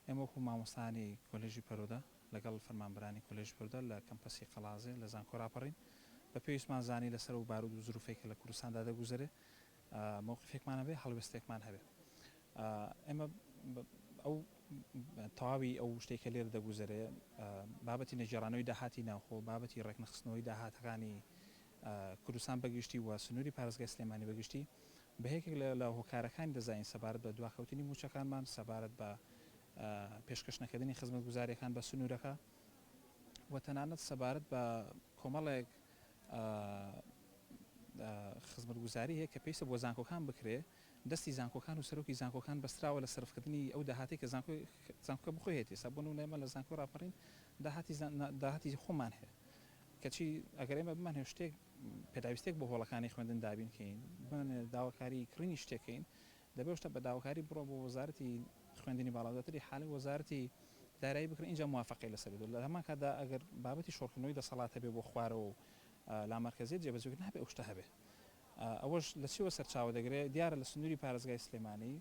ئێمەوەکو مامۆستایانی کۆلێژی پەروودە لەگەڵ فەرمانبەرانی کۆلێژی پەروودە لە کەمپەسی قەڵازێ لە زانکۆ راپەڕین بە پێویستمان زانی لەسەر ئەو بارود و زروفەی کە لە کوردستاندا دەگوزەرێ مەوقیفێکمان هەبێ هەڵوێستێکمان هەبێ ئێمە ئەو تەواوی ئەو شتێک کە لێرە دەگوزەرێ بابەتی نەگێڕانەوەی داهاتی ناوخۆ بابەتی ڕێکنەخستنەوەی داهاتەکانی کوردستان بەگشتی و سنووری پارێزگای سلێمانی بەگشتی بە یەکێک لە هۆکارەکانی دەزانین سەبارەت بە دواکەوتنی موچەکانمان سەبارەت بە پێشکەش نەکردنی خزمەت گوزارەکان بە سنوورەکە و تەنانەت سەبارەت بە کۆمەڵێک خزمەتگوزاری هەیە کە پێویستە بۆ زانکۆکان بکرێ، دەستی زانکۆکان و سەرۆکی زانکۆکان بەستراوە لە سەرفکردنی ئەو داهاتەی کە زانکۆکە بۆ خۆی هەیەتی، ئێستا بۆ نموونە ئێمە لە زانکۆی ڕاپەڕین داهاتی خۆمان هەیە، کەچی ئەگەر ئێمە بمانەوێت شتێک پێداویستێک بۆ هۆڵەکانی خوێندن دابین کەین، بمانەوێت داواکاری کڕینی شتێک کەین، دەبێ شتە بە داواکاری بڕۆن بۆ وەزارەتی خوێندنی باڵا دواتر ئیحالەی وەزارەتی دارایی بکرێن ئینجا موافەقەی لەسەر بدرێت لە هەمان کاتدا ئەگەر بابەتی شۆڕکردنەوەی دەسەڵات هەبێ بۆ خوارەوە و لامەرکەزیەت جێبەجێ بکرێت نابێ ئەو شتە هەبێ ئەوەش لە چیەوە سەرچاوە دەگرێ دیارە لە سنووری پارێزگای سلێمانی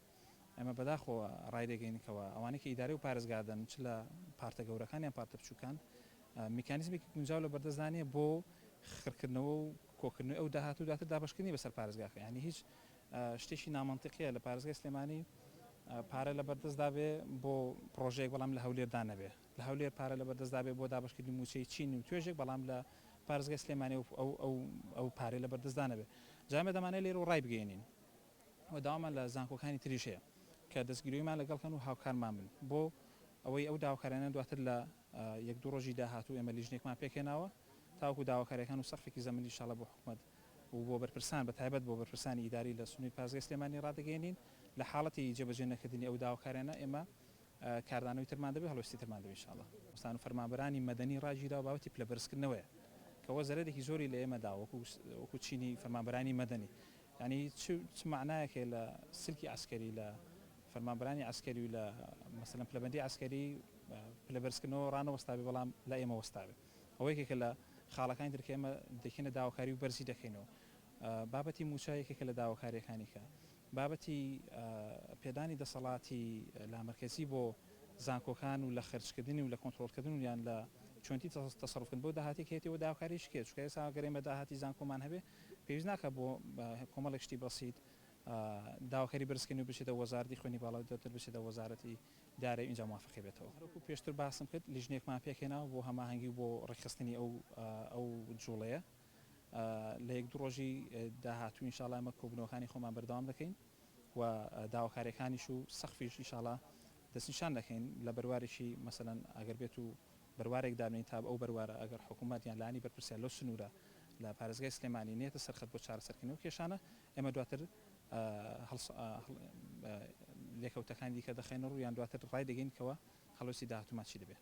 ئێمە بەداخەوە ڕای دەگەین کەوە ئەوانەی کە ئیدارەی و پارێزگا دەن چ لە پارتە گەورەکان یان پارتە بچووکان میکانیزمێکی گونجاو لە بەردەستدا نییە بۆ خڕکردنەوە و کۆکردنەوەی ئەو داهات و دواتر دابەشکردنی بەسەر پارێزگاکە یانی هیچ شتێکی نامەنتیقیە لە پارێزگای سلێمانی پارە لە بەردەستدا بێ بۆ پڕۆژەیەک بەڵام لە هەولێردا نەبێ لە هەولێر پارە لە بەردەستدا بێ بۆ دابەشکردنی مووچەی چین و توێژێک بەڵام لە پارێزگای سلێمانی و ئەو ئەو ئەو پارەی لە بەردەستدا نەبێ جا ئێمە دەمانەوێت لێرەوە ڕایبگەیەنین و داوامان لە زانکۆکانی تریش هەیە کە دەستگیرۆیمان لەگەڵ کەن و هاوکارمان بن بۆ ئەوەی ئەو داواکاریانە دواتر لە یەک دوو ڕۆژی داهاتوو ئێمە لیژنەیەکمان پێکهێناوە تاوەکو داواکاریەکان و سەقفێکی زەمەنی ئیشاڵا بۆ حکومەت و بۆ بەرپرسان بە تایبەت بۆ بەرپرسانی ئیداری لە سنوری پارێزگای سلێمانی ڕادەگەیەنین لە حاڵەتی جێبەجێ نەکردنی ئەو داواکاریانە ئێمە کاردانەوەی ترمان دەبێت هەڵوێستی ترمان دەبێت ئیشاڵا. بەرپرسان و فەرمانبەرانی مەدەنی ڕاگیراو بابەتی پلە بەرزکردنەوەیە کەوە زەرەرێکی زۆری لە ئێمە داوە وەکو چینی فەرمانبەرانی مەدەنی یانی چ چ مەعنایەک هەیە لە سلکی عەسکەری لە فەرمانبەرانی عەسکەری و لە مەسەلەن پلەبەندی عەسکەری پلە بەرزکردنەوە ڕانەوەستابێ بەڵام لای ئێمە وەستابێ ئەوە یەکێکە لە خاڵەکانی تر کە ئێمە دەکەینە داواکاری و بەرزی دەکەینەوە بابەتی مووچە یەکێکە لە داواکاریەکانی کە بابەتی پێدانی دەسەڵاتی لامەرکەزی بۆ زانکۆکان و لە خرجکردنی و لە کۆنتترۆلکردن و یان لە چۆنتی تەسەڕفکن بۆ داهاتی کێتەوە داواکاریش کێ چکە ئێسا گەرێمە داهاتی زانکۆمان هەبێ پێویست ناکات بۆ کۆمەڵێک شتی بەسیت داواکاری بەرزکردنی بچێتە وەزارەتی خوێنی باڵا و دواتر بچێتە وەزارەتی دارایی و ئینجا موافەقەی بێتەوە. وەکو پێشتر باسم کرد لیژنەیەکمان پێکهێناوە بۆ هەماهەنگی و بۆ ڕێکخستنی ئەو ئەو جووڵەیە لە یەک دوو ڕۆژی داهاتوو ان شاءاللە ئێمە کۆبوونەوەکانی خۆمان بەردەوام دەکەین و داواکارییەکانیش و سەقفیش ان شاءاللە دەستنیشان دەکەین لە بەروارێکی مەسەلەن ئەگەر بێتوو بەروارێک دابنێین تا ئەو بەروارە ئەگەر حکوومەت یان لایەنی بەرپرسیار لەو سنوورە لە پارێزگای سلێمانی نێتە سەر خەت بۆ چارەسەرکردنی ئەو کێشانە ئێمە دواتر لێکەوتەکانی دیکە دەخەینە ڕوو یان دواتر ڕایدەگەین کەوا هەڵوێستی داهاتوومان چی دەبێت.